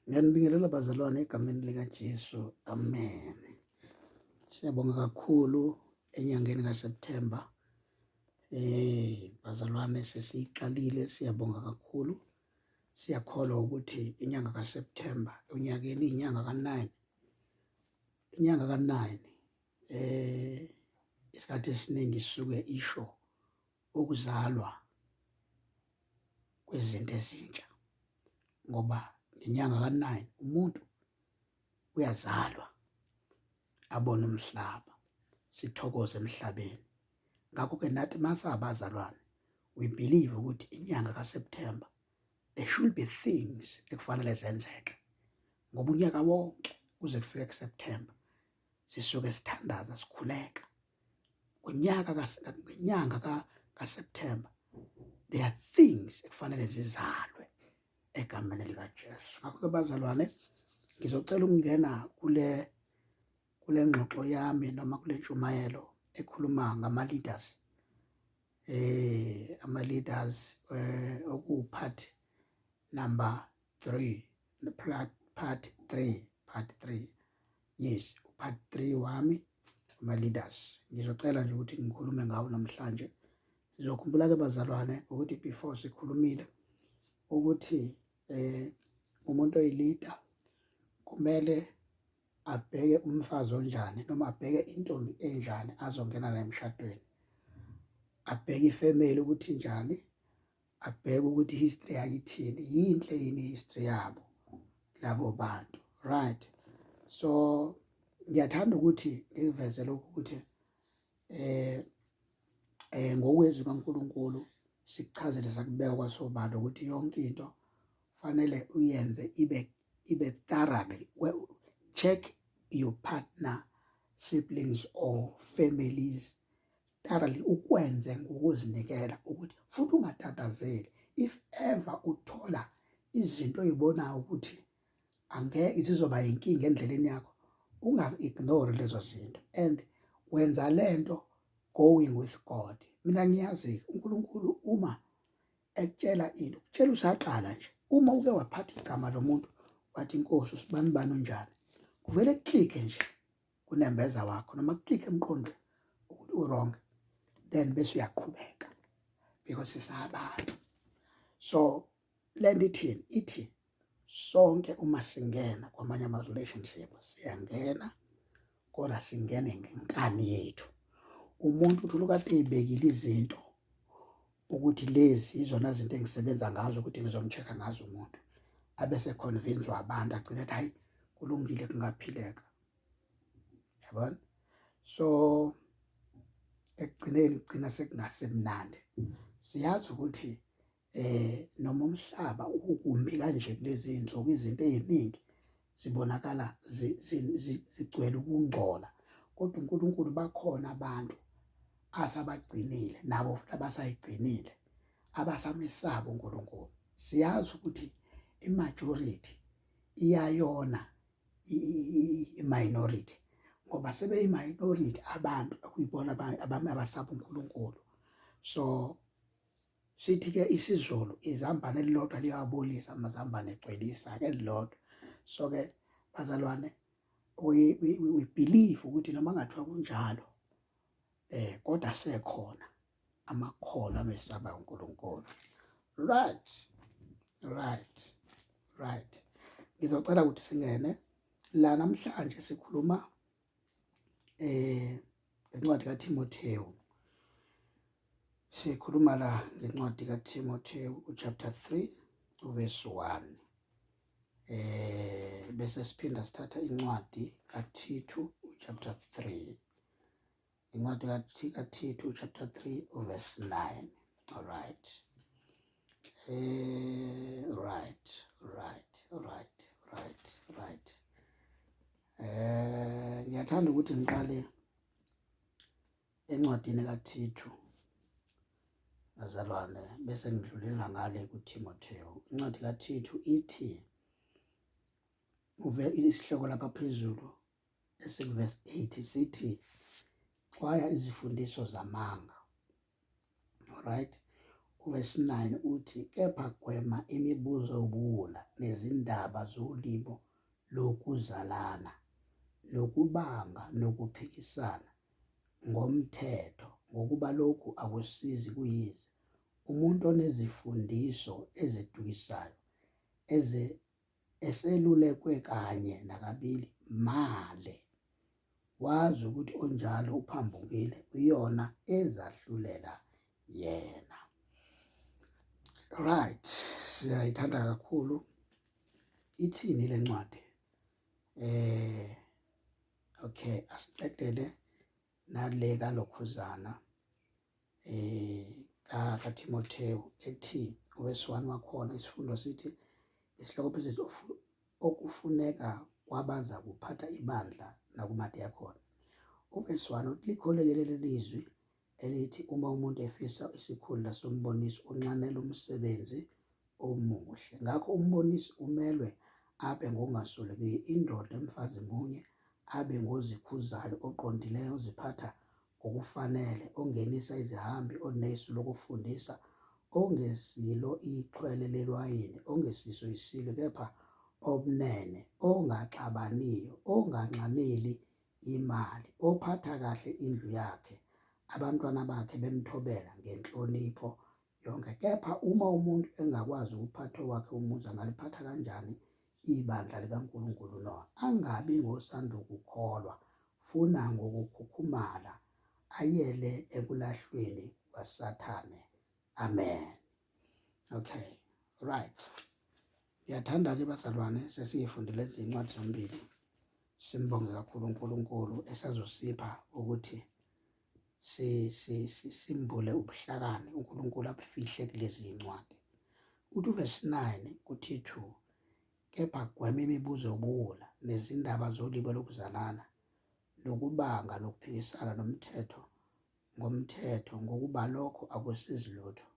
Ngiyanibingelela bazalwane egameni likaJesu. Amen. Siyabonga kakhulu enyangeni kaSeptember. Eh bazalwane sesiqalile siyabonga kakhulu. Siyakholwa ukuthi inyanga kaSeptember unyakeni inyanga ka9. Inyanga ka9 eh isikhathi esiningi suke isho wokuzalwa kwezinto ezintsha ngoba ngenyanga ka-nine umuntu uyazalwa abone umhlaba, sithokoze emhlabeni. Ngakho-ke nathi masabazalwane we believe ukuthi inyanga ka-September there should be things ekufanele zenzeke ngoba unyaka wonke kuze kufike ku-September sisuke sithandaza sikhuleka. ngonyaka ngenyanga kaSeptember there are things ekufanele zizalwe egameni likaJesu ngakho-ke bazalwane ngizocela ukungena kule kule ngxoxo yami noma kule ntshumayelo ekhuluma ngama-leaders eh ama-leaders eh okuwupart number 3 part 3 part 3 yes upart 3 wami ama leaders ngizocela nje ukuthi ngikhulume ngawo namhlanje sizokhumbula ke bazalwane ukuthi before sikhulumile ukuthi eh umuntu oyilida kumele abheke umfazi onjani noma abheke intombi enjani azongena naye emshadweni abheke ifamily ukuthi njani abheke ukuthi history yakithini yinhle yini history yabo labo bantu right so ngiyathanda ukuthi ngiveze lokhu ukuthi eh eh ngokwezwi kaNkuluNkulu sikuchazele sakubeka kwasobala ukuthi yonke into fanele uyenze ibe ibe thoroughly well, check your partner siblings or families thoroughly ukwenze ngokuzinikela ukuthi futhi ungatatazeli if ever uthola izinto oyibonayo ukuthi angeke zizoba yinkinga endleleni yakho ungazi-ignore lezo zinto and wenza le nto going with God mina ngiyazi uNkulunkulu uma ekutshela into kutshela usaqala nje uma uke waphatha igama lomuntu wathi inkosi usibani bani unjani kuvele kuklike nje kunembeza wakho noma kuclick emqondo ukuthi uwrong then bese uyaqhubeka because sisabantu so le nto ithini ithi sonke uma singena kwamanye ama-relationship siyangena kodwa singene ngenkani yethu umuntu uthi ulukade eyibekile izinto ukuthi lezi izona zinto engisebenza ngazo ukuthi ngizomcheck-a ngazo umuntu abe seconvince-wa abantu agcine ethi hhayi kulungile kungaphileka yabona so ekugcineni kugcina sekungasemnandi siyazi ukuthi eh noma umhlaba ukumbi kanje kulezi insuku izinto eziningi zibonakala zigcwele ukungcola kodwa uNkulunkulu bakhona abantu asabagcinile nabo futhi abasayigcinile abasamesaba uNkulunkulu siyazi ukuthi imajority iyayona i-minority ngoba sebeyi-minority abantu okuyibona abami abasaba uNkulunkulu so sithi-ke isiZulu izambane elilodwa liyawabolisa amazambane egcwelisa-ke elilodwa so-ke bazalwane we, we, we believe ukuthi noma kungathiwa kunjalo um kodwa sekhona amakholwa amesaba uNkulunkulu right right right ngizocela ukuthi singene la namhlanje sikhuluma eh ngencwadi kaTimotheo sikhuluma la ngencwadi kaTimotheo uchapter 3 uverse 1 eh bese siphinda sithatha incwadi kaThithu uchapter 3 incwadi kaThithu chapter 3 verse 9 all right eh right right right right right eh ngiyathanda ukuthi ngiqale encwadini kaThithu bazalwane bese ngidlulela ngale kuTimotheo incwadi kaThithu ithi uve isihloko lapha phezulu esikuvesi 8 sithi xwaya izifundiso zamanga right uvesi 9 uthi kepha gwema imibuzo yobuwula nezindaba zolimo lokuzalana nokubanga nokuphikisana ngomthetho ngokuba lokhu akusizi kuyize umuntu onezifundiso ezidukisayo eselulekwe kanye nakabili male wazi ukuthi onjalo uphambukile uyona ezahlulela yena right siyayithanda kakhulu ithini le ncwadi eh okay asiqedele nale kalokhuzana um kaThimothewu ethi uwesiwani wakhona isifundo sithi isihloko phezulu okufuneka kwabaza kuphatha ibandla nakumadeyakhona uwesiwani uthi likholekele lelizwi elithi uma umuntu efisa isikhundla sombonisi unxanela umsebenzi omuhle ngakho umbonisi umelwe abe ngokungaswelekiyo indoda emfazi munye abe ngozikhuzayo oqondileyo oziphatha ngokufanele, ongenisa izihambi, onesu lokufundisa, ongesilo ixhwele lelwayini, ongesiso isilo, kepha obunene, ongaxabaniyo, onganxameli imali, ophatha kahle indlu yakhe, abantwana bakhe bemthobela ngenhlonipho yonke. Kepha uma umuntu engakwazi ukuphatha owakhe umuzi, angaliphatha kanjani ibandla likaNkulunkulu? No, angabi ngosandukukholwa, funa ngokukhukhumala ayele ekulahlweni kwaSathane. Amen. Okay, right. Ngiyathanda-ke bazalwane, sesiyifundile izincwadi zombili. Simbonge kakhulu uNkulunkulu esazosipha ukuthi simbule ubuhlakani uNkulunkulu abufihle kulezi zincwadi. Uthi uvesi 9 kuthi 2 kepha gwema imibuzo yobuwula nezindaba zolibo lokuzalana nokubanga nokuphikisana nomthetho ngomthetho ngokuba lokho akusizi lutho.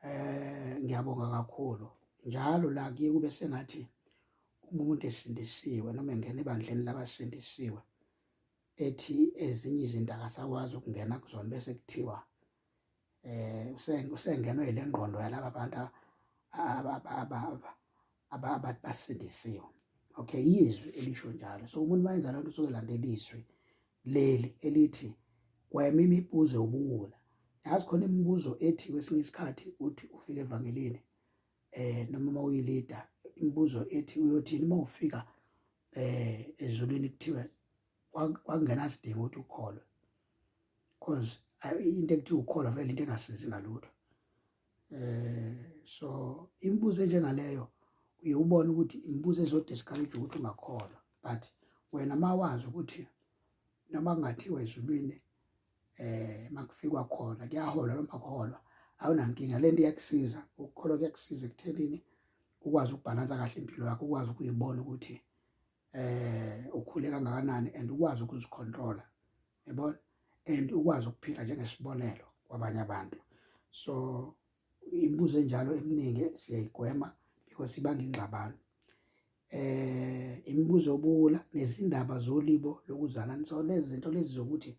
Eh ngiyabonga kakhulu. Njalo la kuye kube sengathi umuntu esindisiwe noma engena ebandleni labasindisiwe ethi ezinye izinto akasakwazi ukungena kuzona bese kuthiwa eh usengenwe ile ngqondo yalaba bantu abathi basindisiwe okay izwi elisho njalo so umuntu mayenza lento usuke landela izwi leli elithi gwema imibuzo yobuwula yazi khona imibuzo ethi kwesinye isikhathi uthi ufika evangelini eh noma uma uyilida imibuzo ethi uyothini uma ufika eh ezulwini kuthiwa kwakungena sidingo ukuthi ukholwe because into ekuthiwa ukholwa vele into engasizi ngalutho eh so imibuzo enjengaleyo uye ubone ukuthi imibuzo ezodiscourage ukuthi ungakholwa but wena mawazi ukuthi noma kungathiwa ezulwini eh makufikwa khona kuyahola noma kuholwa awunankinga lento iyakusiza ukukholwa kuyakusiza ekuthenini ukwazi ukubhalansa kahle impilo yakho ukwazi ukuyibona ukuthi eh ukhule kangakanani and ukwazi ukuzicontrola yabona and ukwazi ukuphila njengesibonelo kwabanye abantu so Imibuzo enjalo eminingi siyayigwema because ibanga ingxabano. Eh imibuzo obula nezindaba zolibo lokuzalana so lezi zinto lezi zokuthi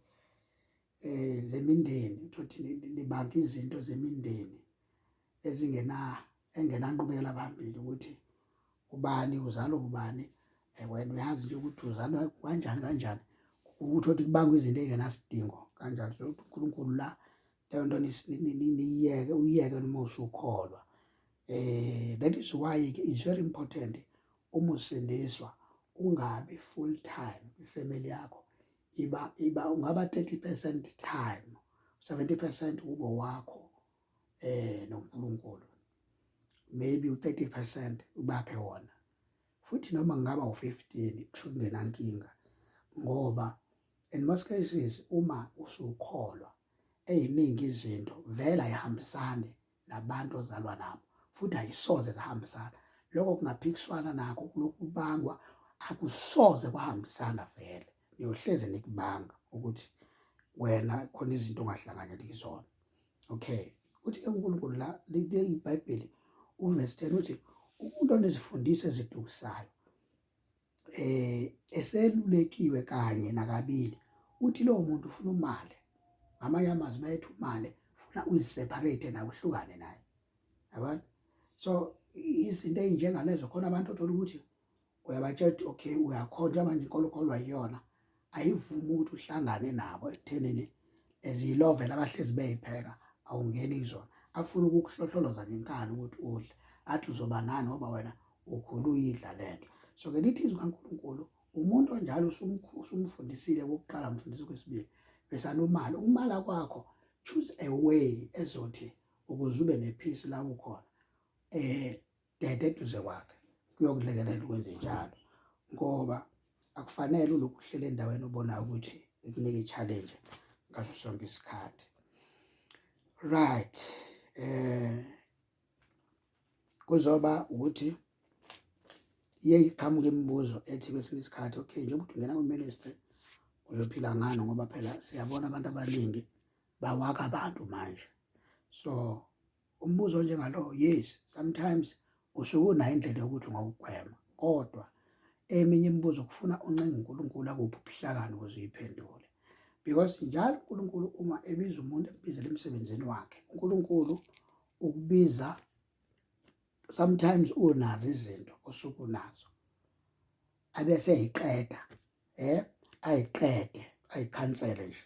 eh zemindeni uthi nibanka izinto zemindeni ezingena engenanqubekela phambili ukuthi ubani uzalwa ubani eh, wena uyazi nje ukuthi uzalwa kanjani kanjani ukuthi othi kubangwa izinto engenasidingo kanjani so uNkulunkulu la leyo nto niyiyeke uyiyeke noma usukholwa eh that is why ke is very important uma usindiswa ungabi full time ifamily yakho iba iba ungaba 30% time 70% kubo wakho eh noNkulunkulu maybe u30% ubaphe wona futhi noma ngaba u15 kushukungenankinga ngoba in most cases uma usukholwa eyiningi izinto vele ayihambisani nabantu ozalwa nabo futhi ayisoze zahambisana lokho kungaphikiswana nakho lokubangwa akusoze kwahambisana vele niyohleze nikubanga ukuthi wena khona izinto ongahlanganyeli kuzona okay uthi ke uNkulunkulu la libe iBhayibheli uverse 10 uthi umuntu onezifundisi ezidukisayo eh eselulekiwe kanye nakabili uthi lowo muntu ufuna umali ngamanye amazwi mayethi umali funa uyiseparate naye uhlukane naye yabona so izinto ezinjengalezo khona abantu othola ukuthi uyabatshela ukuthi okay uyakhonjwa manje inkolo kholwa iyona ayivumi ukuthi uhlangane nabo ekuthenini eziyilovela abahlezi beyipheka awungeni kuzona afuna ukukuhlohloloza ngenkani ukuthi udle athi uzoba nani ngoba wena ukhulu uyidla le nto so-ke lithi izwi kankulunkulu umuntu onjalo usumfundisile okokuqala mfundisi okwesibili besanomali ukumala kwakho choose a way ezothi ukuze ube nephisi la ukhona um dede eduze kwakhe kuyokulekelela ukwenze njalo ngoba akufanele ulokhu uhlele endaweni obonayo ukuthi ikunika i-challenge ngaso sonke isikhathi right eh kuzoba ukuthi iye iqhamuke imibuzo ethi kwesinye isikhathi okay njengoba uthi ungena kwi-ministry uzophila ngani ngoba phela siyabona abantu abaningi bawaka abantu manje so Umbuzo onjengalowo yes sometimes usuke unayo indlela yokuthi ungawugwema kodwa eminye imibuzo kufuna uncenga uNkulunkulu akuphi ubuhlakani ukuze uyiphendule because njalo uNkulunkulu uma ebiza umuntu ebizela emsebenzini wakhe uNkulunkulu ukubiza sometimes unazo izinto osuke unazo abese eyiqeda eh ayiqede ayikhansele nje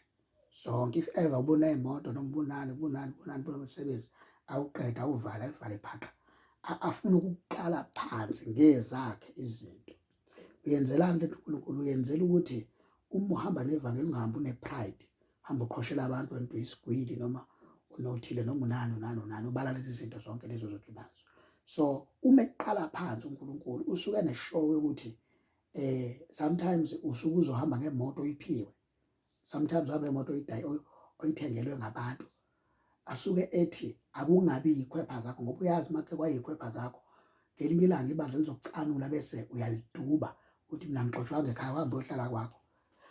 zonke if ever ubona imoto noma ubonani ubonani ubonani bomsebenzi awuqeda awuvale ayivale phaqa afuna ukuqala phansi ngezakhe izinto uyenzelani lento uNkulunkulu uyenzela ukuthi uma uhamba nevangeli ungahambi unepride hamba uqhoshela abantu wena uyisigwili noma unothile noma unani unani unani ubala lezi zinto zonke lezo zothi unazo so uma eqala phansi uNkulunkulu usuke neshow yokuthi eh sometimes usuke uzohamba ngemoto oyiphiwe sometimes uhambe ngemoto oyidayi oyithengelwe ngabantu asuke ethi akungabi yikhwepha zakho ngoba uyazi make kwayikhwepha zakho ngelinye ilanga ibandla lizokucanula bese uyaliduba uthi mina ngixoshwanga ekhaya uhambe ohlala kwakho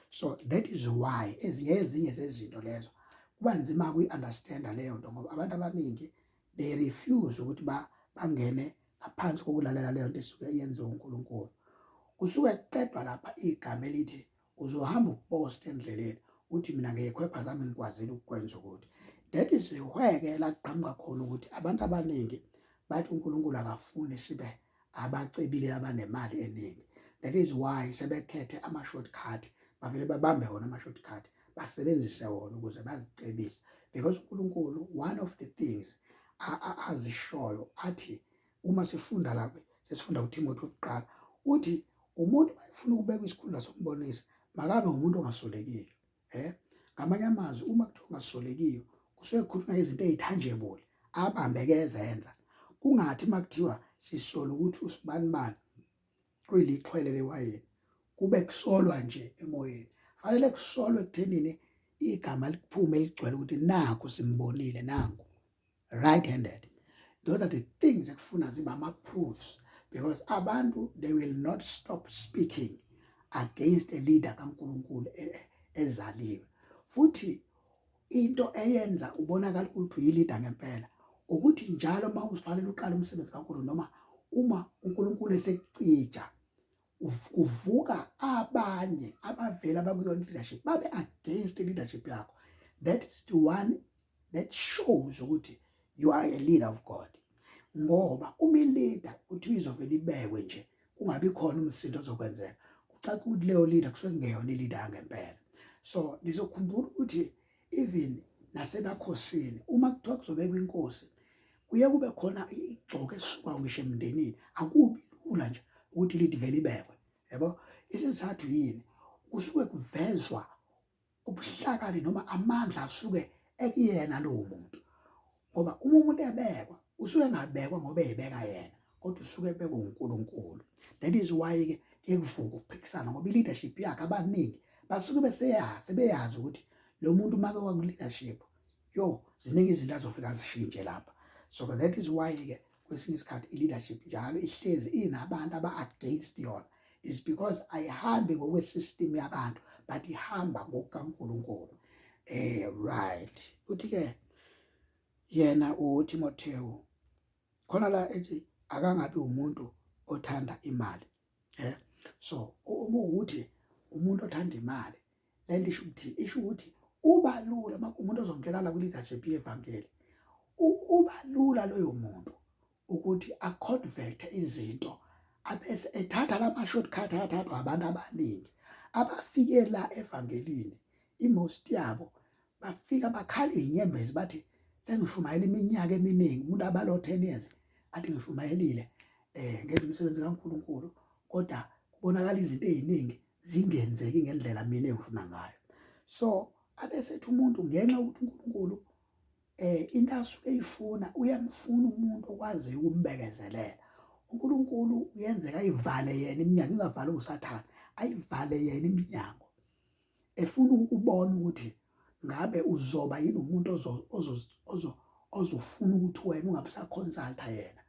so that is why ezinye ezinye zezinto lezo kuba nzima kuyi-understanda leyo nto ngoba abantu abaningi they refuse ukuthi ba bangene ngaphansi kokulalela leyo nto esuke yenziwa uNkulunkulu kusuke kuqedwa lapha igama elithi uzohamba upost endleleni uthi mina ngekhwepha zami ngikwazile ukukwenza ukuthi that is where-ke laqhamuka khona ukuthi abantu abaningi bathi uNkulunkulu akafuni sibe abacebile abanemali eningi that is why sebekhethe ama shortcut bavele babambe wona ama shortcut basebenzise wona ukuze bazicebise because uNkulunkulu one of the things azishoyo athi uma sifunda la sesifunda uThimothi wokuqala uthi umuntu mayefuna ukubeka isikhundla sombonisi makabe umuntu ongasolekile eh ngamanye amazwi uma kuthiwa ungasolekiyo kusuke kukhulunywa izinto ezitangible abambeke ezenza kungathi makuthiwa sisola ukuthi usibani bani kuyilixhwele lewayini kube kusolwa nje emoyeni fanele kusolwe ekuthenini igama likuphume ligcwele ukuthi naku simbonile nangu right handed those are the things ekufuna ziba ama proofs because abantu they will not stop speaking against a leader kaNkuluNkulu e, e, ezaliwe futhi into eyenza ubonakala ukuthi uyilida ngempela ukuthi njalo uma uzifanele uqala umsebenzi kaNkuluNkulu noma uma uNkuluNkulu esecija kuvuka abanye abavela abakulona leadership babe against leadership yakho that is the one that shows ukuthi you are a leader of God ngoba uma ileader uthi izovela ibekwe nje kungabi khona umsindo ozokwenzeka kucaca ukuthi leyo leader kusuke kungeyona ileader yangempela so nizokhumbula ukuthi even nasebakhosini uma kuthiwa kuzobekwa inkosi kuye kube khona igxoke esuka ngisho emndenini akubi lula nje ukuthi lithi vele ibekwe yabo isizathu yini kusuke kuvezwa ubuhlakani noma amandla asuke ekuyena lowo muntu ngoba uma umuntu ebekwa usuke engabekwa ngoba ebeka yena kodwa usuke ebekwa uNkulunkulu that is why ke ekuvuka ukuphikisana ngoba i-leadership yakhe abaningi basuke beseyazi sebeyazi ukuthi lo muntu uma bewaku-leadership yo ziningi izinto azofika zishintshe lapha so that is why-ke kwesinye isikhathi i-leadership njalo ihlezi inabantu aba-against yona is because ayihambi ngokwe-system yabantu but ihamba ngokukankulunkulu eh right uthi-ke yena utimotewu khona la ethi akangabi umuntu othanda imali eh so uma ukuthi umuntu othanda imali lento isho ukuthi isho ukuthi uba lula uma umuntu ozongena la kuliza JP evangeli uba lula loyo muntu ukuthi aconvert izinto abese ethatha lama shortcut athathwa abantu abaningi abafike la evangelini imost yabo bafika bakhala izinyembezi bathi sengishumayela iminyaka eminingi umuntu abalo 10 years athi ngishumayelile eh ngenza umsebenzi kaNkuluNkulu kodwa kubonakala izinto eziningi zingenzeki ngendlela mina engifuna ngayo so abesethi umuntu ngenxa ukuthi uNkulunkulu eh into asuke eyifuna uyamfuna umuntu okwaziyo ukumbekezelela uNkulunkulu uyenzeka ayivale yena iminyango ingavali usathane ayivale yena iminyango efuna ukubona ukuthi ngabe uzoba yini umuntu ozofuna ukuthi wena ungabe usaconsulta yena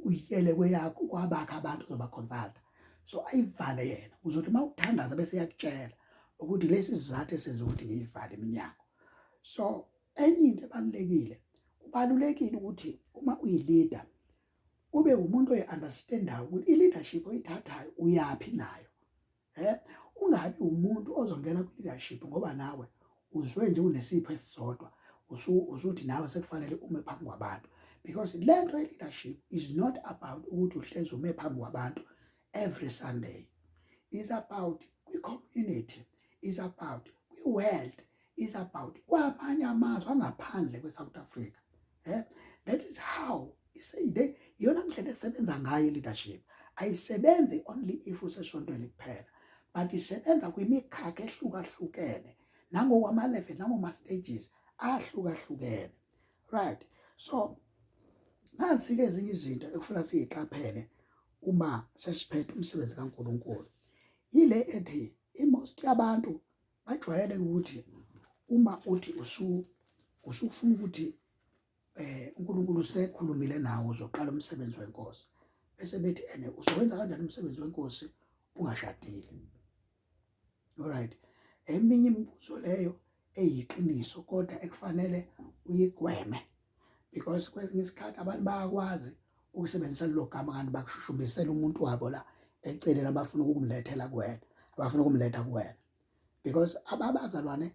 uyele kweyakho kwabakho abantu ozobaconsulta so ayivale yena uzothi uma uthandaza bese yakutshela ukuthi lesi sizathu esenza ukuthi ngiyivale iminyango so enye into ebalulekile kubalulekile ukuthi uma uyilida ube umuntu oyi-understandayo ukuthi i-leadership oyithathayo uyaphi nayo eh ungabi umuntu ozongena ku leadership ngoba nawe uzwe nje unesipho esisodwa usuthi nawe sekufanele ume phambi kwabantu because lento ye leadership is not about ukuthi uhlezi ume phambi kwabantu every sunday is about kwi community is about kwi world is about kwamanye amazwe angaphandle kwe-south africa eh? that is how iseyide iyona ndlela esebenza ngayo i-leadership ayisebenzi only if usesontweni kuphela but isebenza kwimikhakha ehlukahlukene nangokwama-level nangoma-stages ahlukahlukene right so nansi-ke ezinye izinto ekufuna siyiqaphele uma sesiphethe umsebenzi kaNkuluNkulu yile ethi imost yabantu bajwayele ukuthi uma uthi usu usufuna ukuthi eh uNkulunkulu usekhulumile nawe uzoqala umsebenzi wenkosi bese bethi ene uzowenza kanjani umsebenzi wenkosi ungashadile alright eminye imibuzo leyo eyiqiniso kodwa ekufanele uyigweme because kwesinye isikhathi abantu bayakwazi ukusebenzisa lelo gama kanti bakushushumbisela umuntu wabo la eceleni abafuna ukumlethela kuwena abafuna ukumletha kuwena because ababazalwane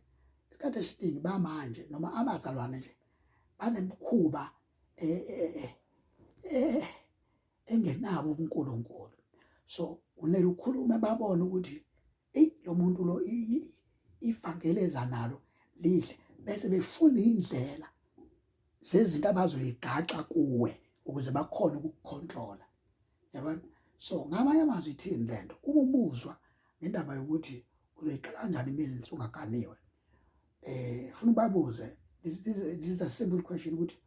isikhathi esiningi bamanje noma abazalwane nje banemkhuba eh, eh, eh, engenabo uNkulunkulu so unele ukhulume babone ukuthi eyi lo muntu lo ifangeleza nalo lihle bese befuna indlela zezinto abazoyigaxa kuwe ukuze bakhone ukukukhontrola yabona so ngamanye amazwi ithini lento uma ubuzwa ngendaba yokuthi uzoyiqala kanjani imizinsi ungaganiwe eh funa ubabuze this, this, this is a simple question ukuthi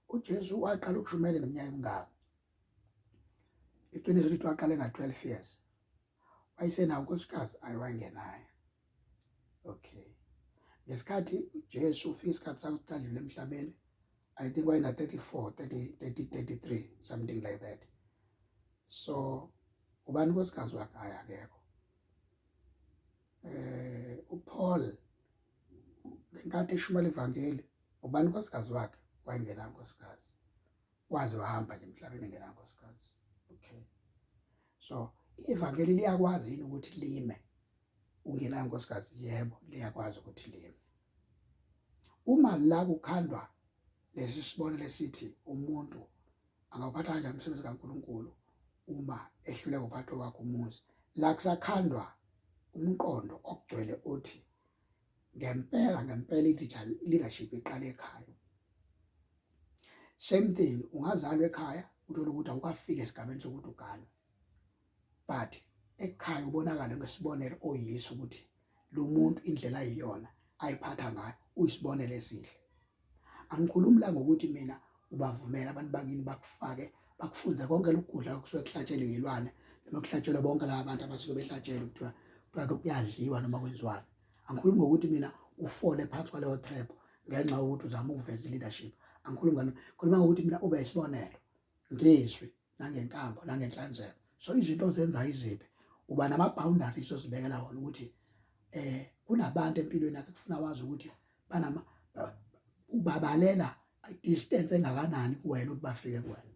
uJesu waqala ukushumayela neminyaka emingaki iqiniso lithi waqala nga 12 years wayesenawo unkosikazi ayewangenayo okay ngesikhathi uJesu ufika isikhathi sakuqala emhlabeni i think wayena 34 30 30 33 something like that so ubani unkosikazi wakhe hayi akekho eh uPaul ngenkathi eshumayela ivangeli ubani unkosikazi wakhe wayengena unkosikazi waze wahamba nje emhlabeni engena unkosikazi okay so ivangeli liyakwazi yini ukuthi lime ungenayo nkosikazi yebo liyakwazi ukuthi lime uma la kukhandwa lesi sibone lesithi umuntu angawuphatha kanjani umsebenzi kaNkuluNkulu uma ehluleka uphatho wakhe umuzi la kusakhandwa umqondo okugcwele othi ngempela ngempela i-leadership iqale ekhaya same thing ungazalwa ekhaya uthole ukuthi awukafiki esigabeni sokuthi uganwe but ekhaya ubonakala ngesibonelo oyiso ukuthi lo muntu indlela ayiyona ayiphatha ngayo uyisibonelo esihle angikhulumi la ngokuthi mina ubavumela abantu bakini bakufake bakufunze konke lokugudla okusuke kuhlatshelwe yilwane noma kuhlatshelwe bonke laba bantu abasuke behlatshelwe kuthiwa kuthiwa kuyadliwa noma kwenziwani angikhulumi ngokuthi mina ufole phansi kwaleyo trap ngenxa yokuthi uzama ukuveza leadership angikhulumi ngalo khuluma ngokuthi mina ube isibonelo ngizwi nangenkambo nangenhlanzeko so izinto ozenzayo iziphi uba nama-boundaries ozibekela wona ukuthi eh kunabantu empilweni yakhe kufuna wazi ukuthi banama ubabalela distance engakanani kuwena ukuthi bafike kuwena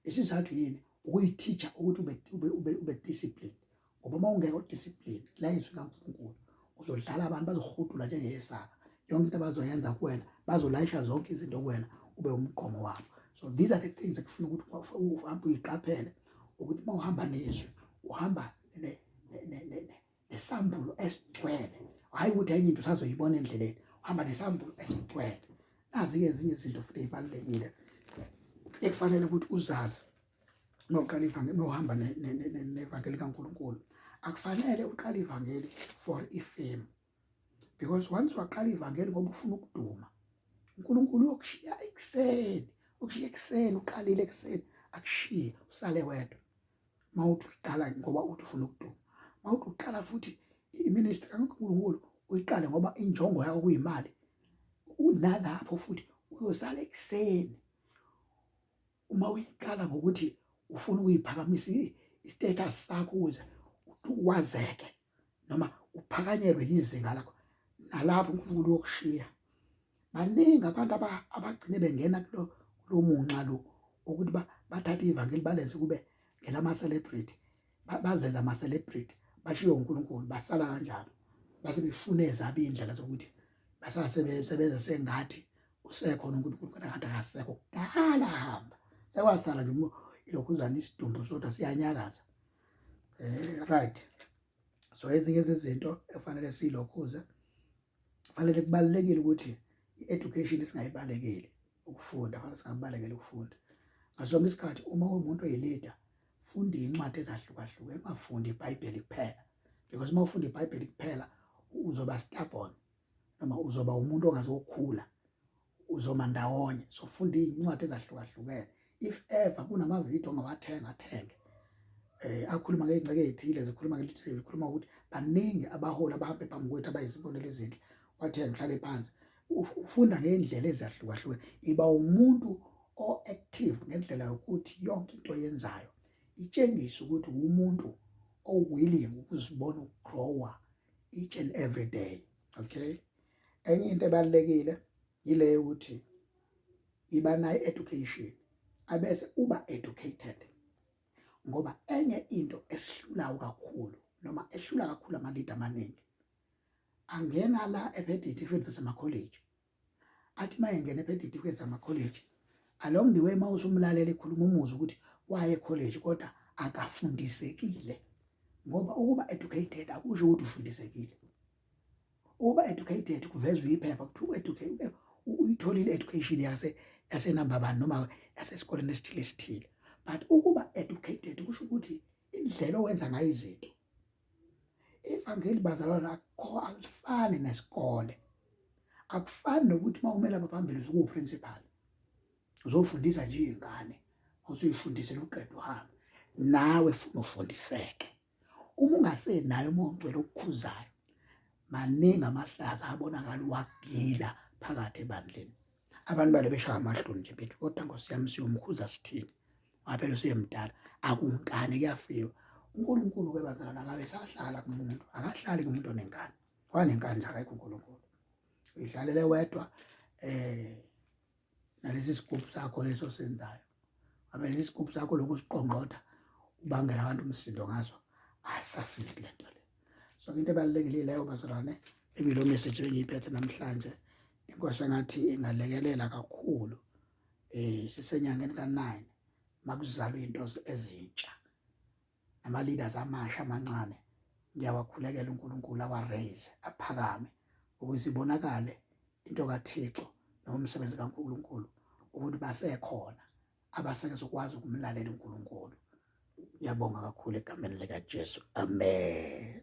isizathu yini ukuyithicha ukuthi ube ube ube ube discipline ngoba uma ungekho discipline la izwi kaNkulunkulu uzodlala abantu bazohudula njengeyesaka yonke into abazoyenza kuwena bazolayisha zonke izinto kuwena ube umqomo wabo so these are the things ekufuna ukuthi uhambe uyiqaphele ukuthi uma uhamba nezwi uhamba nesambulo esigcwele hhayi ukuthi enye into usazoyibona endleleni uhamba nesambulo esigcwele nazi-ke ezinye izinto futhi ey'balulekile ekufanele ukuthi uzazi noqala ivangeli nohamba nevangeli kaNkulunkulu akufanele uqale ivangeli for ifame because once waqala ivangeli ngoba ufuna ukuduma uNkulunkulu uyokushiya ekuseni ukushiya ekuseni uqalile ekuseni akushiye usale wedwa mawuthi uqala ngoba uthi ufuna ukuduma mawuthi uqala futhi iministry kaNkulunkulu uyiqale ngoba injongo yakho kuyimali unalapho futhi uyosala ekuseni uma uyiqala ngokuthi ufuna ukuyiphakamisa i-status sakho ukuze uwazeke noma uphakanyelwe yizinga lakho nalapho uNkulunkulu uyokushiya baningi abantu abagcine bengena kulo lo munxa lo ukuthi bathathe ivangeli balenze kube ngelama-celebrity bazenza ama-celebrity bashiye uNkulunkulu basala kanjalo base befune ezabi indlela zokuthi basala sebesebenza sengathi usekhona uNkulunkulu kodwa kanti akasekho kudala hamba sekwasala nje ilokhuzana isidumbu sodwa siyanyakaza um right so ezinye zezinto ekufanele siyilokhuze kufanele kubalulekile ukuthi i-education singayibalekeli ukufunda fanele singabalekeli ukufunda ngasonke isikhathi uma uwumuntu oyilida funda iy'ncwadi ezahlukahlukene ungafundi ibhayibheli kuphela because uma ufunda ibhayibheli kuphela uzoba stubborn noma uzoba umuntu ongazokhula uzoma ndawonye so funda iy'ncwadi ezahlukahlukene if ever kunamavidiyo ongawathenga athenge eh akhuluma ngey'ngceke ey'thile zikhuluma ngelithi zikhuluma ukuthi baningi abaholi abahambe phambi kwethu abayizibonelo ezinhle wathenga uhlale phansi ufunda ngey'ndlela ezahlukahlukene iba umuntu o-active ngendlela yokuthi yonke into oyenzayo itshengise ukuthi uwumuntu o-willing ukuzibona ukugrowa each and every day okay enye into ebalulekile yile yokuthi iba nayo education abese uba educated ngoba enye into esihlulayo kakhulu noma ehlula kakhulu ama-leader amaningi angena la ephethe itifiketi zasemakholeji athi uma engena ephethe itifiketi zamakholeji along the way uma usumlalela ekhuluma umuzi ukuthi waye ekholeji kodwa akafundisekile ngoba ukuba educated akusho ukuthi ufundisekile ukuba educated kuvezwa iphepha kuthiwa educated uyitholile education yase yasenamba bani noma yasesikoleni esithile esithile but ukuba educated kusho ukuthi indlela owenza ngayo izinto ivangeli bazalwana akukho alifani nesikole akufani nokuthi uma umele abaphambili usukuwuprincipal uzofundisa nje iy'ngane usuyifundisela uqeda uhambe nawe funa ufundiseke uma ungasenayo uma ungcwele okukhuzayo maningi amahlaza abonakala uwagila phakathi ebandleni abantu bale beshaya amahloni nje bethi kodwa nkosi yami siyomkhuza sithini ngaphela usuyemdala akunkani kuyafiwa uNkulunkulu ke bazalwana akabe sahlala kumuntu akahlali kumuntu onenkani wanenkani nje akekho uNkulunkulu uyidlalele wedwa eh nalesi sigubhu sakho leso senzayo abe lesi sigubhu sakho lokho siqongqotha ubangela abantu umsindo ngaso asasizi lento le so into ebalekile leyo bazalwane ebilo message engiyiphethe namhlanje inkosi engathi ingalekelela kakhulu eh sisenyangeni ka9 makuzalwa into ezintsha nama leaders amasha amancane ngiyawakhulekela uNkulunkulu awa raise aphakame ukuze ibonakale into kaThixo nomsebenzi kaNkulunkulu umuntu basekhona abasekuzokwazi ukumlalela uNkulunkulu Ngiyabonga kakhulu egameni likaJesu. Amen.